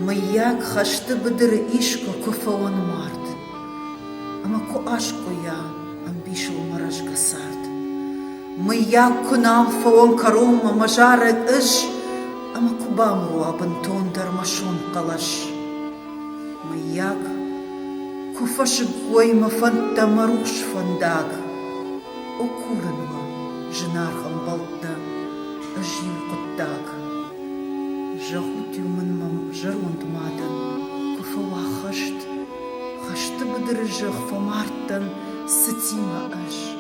Мыййаг хӕсты быдыры искуы куы фӕуӕнуард ӕмӕ куы аскъуыйа ӕмбисыл мӕ рӕзгӕ цард. Мыййаг, куы нал фӕуӕм кӕронмӕ мӕ зарӕг ӕз ӕмӕ куы бамбуруа бынтондӕр мӕ сонхъӕлӕс. Мыййаг, куы фӕсыг уой мӕ фӕндтӕ мӕ рухс фӕндаг. О, курын уӕ, зынаргъ ӕмбӕлттӕ, ӕз иу хъуыддаг. Зӕгъут-иу мын мӕм зӕронд мадӕн, куы фӕуа хӕст, хӕсты быдыры зӕхх фӕмардтӕн цытимӕ ӕз.